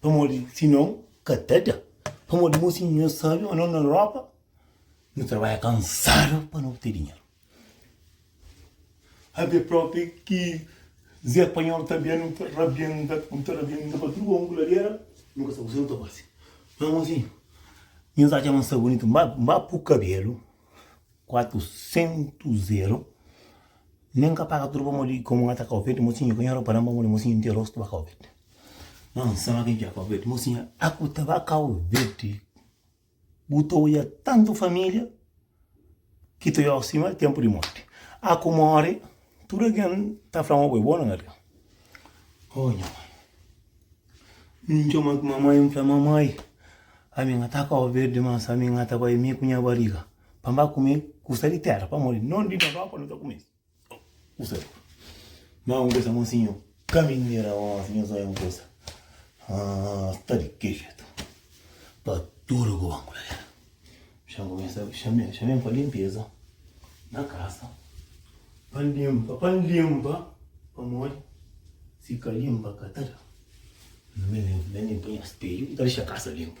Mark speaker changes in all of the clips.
Speaker 1: Pamodi si non ka ta da. Pamodi mo si nhos sabe ma no na Europa no trabadja kansadu pa no obte dinheru. Até propi ki Zé Panhol ta bia no ta rabienta, no ta rabienta pa tudu komu ku ladera, no ka sabe kuse no ta fasi. Ma mozinhu, nhos atxa ma N sta bunitu, N ba, N ba pu kabelu, kuatu sentu zeru, nen ka paga tudu pamodi komu N atxa ka opet, mozinhu, ka nhora pa nan pamodi mozinhu N ten rostu ba ka opet. Não, isso não vem de Cabo Verde. Mocinha, aku ta ba Cabo Verde. Bu ta olha tanto família que tu olha acima é tempo de morte. Aku morre, tudo alguém tá falando, oh, é bom, não é? Oh, minha mãe. Não chama que mamãe, não fala mamãe. A minha tá Cabo Verde, mas a minha tá vai me com minha barriga. Para comer, custa de terra, para morrer. Não de papá, não tá comer. Usa. Má un bes amor sinho caminera ó sinho zóia un coisa ah tá de que jeito pa tudo que banco lá chama começa chama chama para limpeza na casa para limpa para limpa para morrer se cá limpa cá tá nem nem põe espelho tá deixa a casa limpo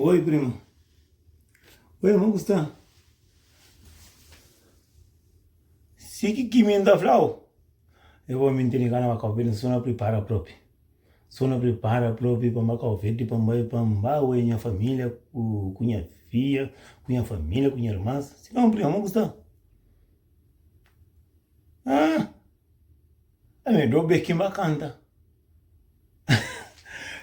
Speaker 1: Oi primo. Oi irmon ku sta? Si ki ki mi nta flau? E bo mi ntindi ka na ba kau verde, nso na pripara propi. Nso na pripara propi pa mba kau verde, pa mba pa mba oe nha familia ku nha fia, ku nha familia, ku nha irmans. Si ka un primo, mon ku sta? Ah! Ami do beki ma kanta.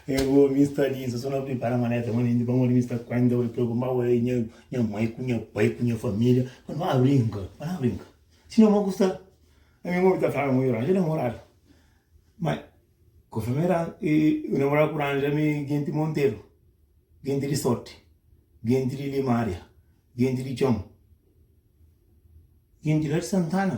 Speaker 1: É bo mi sta li insa so na pripara maleta ma nindi pamodi mi sta kuenta bo di preokupa bo é nha nha mai ku nha pai ku nha familia pa no a brinka pa no a brinka si no ma ku sta ami mo mi ta fla mo yo ranja namorada ma konformi e ran e namorada ku ranja mi genti monteru genti di sorti genti di limaria genti di txon genti la di santana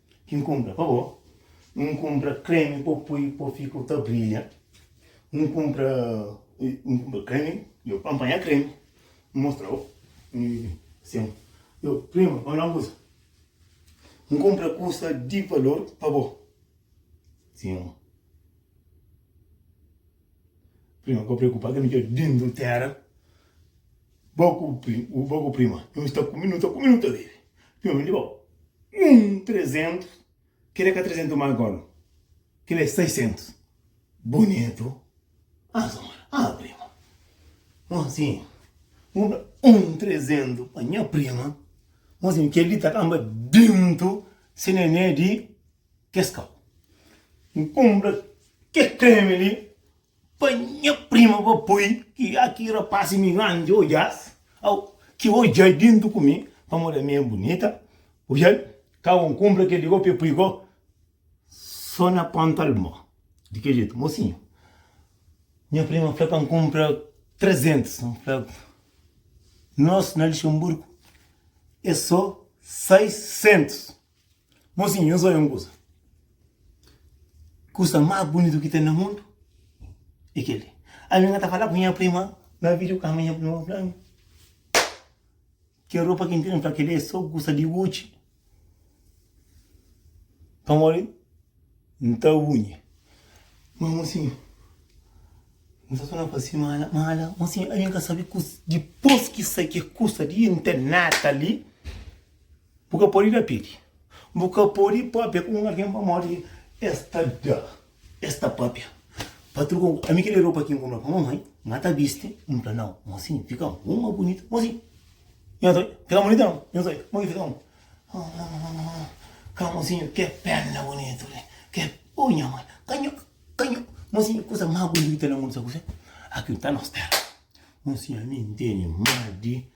Speaker 1: Ki N kunpra pa bo, N kunpra kremi pa bu pui pa bu fika bu ta brilha, N kunpra N kunpra kremi, yo anpanha kremi, N mostra bo mi sen yo prima pa fala un kusa, N kunpra kusa di valor pa bo, sin. Prima, pa preocupa ka mi dja dentro terra Bo ku prima, bo ku prima Nhu sta ku mi, nu ta ku mi, nu ta bebe Prima mi libau un trezentus Kel é ka trezentus ma gol Kel é saisentus Bonitu Ah zona, ah prima Mon sin, bu da un trezentus pa nha prima Mon sin, kel li ta kanba dentro Se nené di kes kau. N kunpra kes kremi li pa nha prima pa poi ki a ki rapasi mi ranja odjas au ki odjai dintu ku mi pamodi ami é bunita odjai kau N kunpra kel li gó pe poi gó so na ponta alma di kel jetu mosinhu nha prima fla pa N kunpra 300 N fla nos na Luxemburgo é so 600. Mozinhu, nhos oja un kuza. Kuza más bunitu ki ten na mundu é kel-li. Ami N ka ta fala ku nha prima na vídiokama, nha prima fla-mi, Kel ropa ki N tene, N fla, Kel-li é sô kuza di Gucci, pamodi N ta bunha. Má, mozinhu, N sta sô na faze mala, mala. Mozinhu, ami N ka sabe kuzê. Dipôs ki sai kel kuza li, N ten nada li. Bu ka pode da pidi. Bu ka pode pâpia ku un algen pamodi es ta da, es ta pâpia. Patru ka fla, Ami ki da ropa ki N kunpra pa mamai, ma N ta bisti. N fla, Nau, ma si N fika un más bunita, ma si N ta fika más bunita, nau, N ta fika más bunita. Ka, mosinhu, ke perna bunitu li! Ke, o nha mai! Ka nho, ka nho! Mosinhu, kusa más bunita na mundu, sabe kuzê? Aki un ta na ôs téra. Mosinhu, ami N tene más di.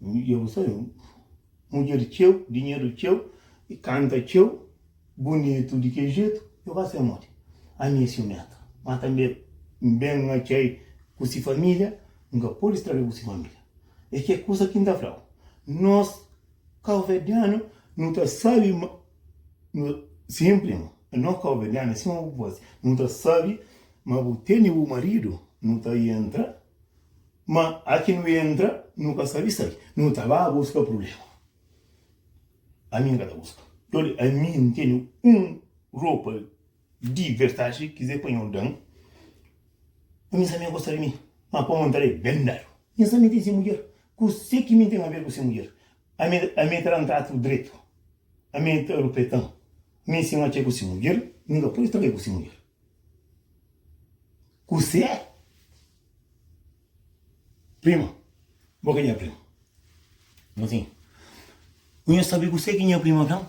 Speaker 1: Dja bu sai mudjer txeu, dinheru txeu i kanta txeu bunitu di kel jetu, dja bu ka sai modi? Ami é siumenta, má tanbê N ben atxa-i ku se família, N ka pode straga-i ku se família. É kel kuza ki N ta fla-u, Nos kauverdianu nu ta sabe ma bu. Sin, prima, nos kauverdianu é sima bu faze. Nu ta sabe ma bu tene bu maridu, nu ta yentra Ma aki nu entra, nu ka sabi sai. Nu ta ba buska prubléma. Ami N ka ta buska. Dóli, ami N tene un ropa di vertaxi, kizê pa nho da-m. Pa nhas ami gosta di mi, ma pamo N ta da-e ben dadu. Nhas ami ten se mudjer, kuzê ki mi N ten aver ku se mudjer? Ami, ami ta da-m tratu dretu? Ami ta rupetan? Mi si N atxa-e ku se mudjer, mi ka pode sta ka-e ku se mudjer. Kuse prima? Bo ki nha prima? Bo tin? Bu nha sabi kuse ki nha prima fla-m?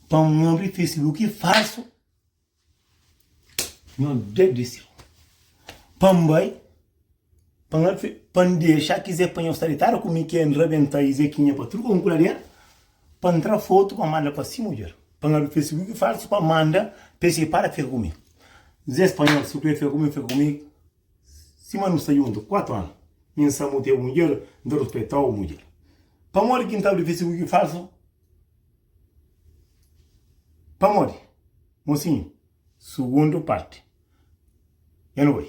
Speaker 1: Pa N abri facebook falsu? Nhos Deus di séu! Pa N bai Pa N fê, pa N dexa ki Zé panha-u saritária ku mi, ki N rabenta i Zekinha pa truka un kuladeira, pa N tra fotu pa manda pa si mudjer, pa N abri fesibuki falsu pa manda pa es ripara fika ku mi. Zé spanhol, si bu krê fika ku mi, fika ku mi sima nu sta djuntu kuatu anu. Mi N sabe bu ta é bu mudjer, N ta ruspeta-u mudjer. Pamodi ki N ta abri fesibuki falsu? Pamodi, mosinhu, Sugundu parti. N oi.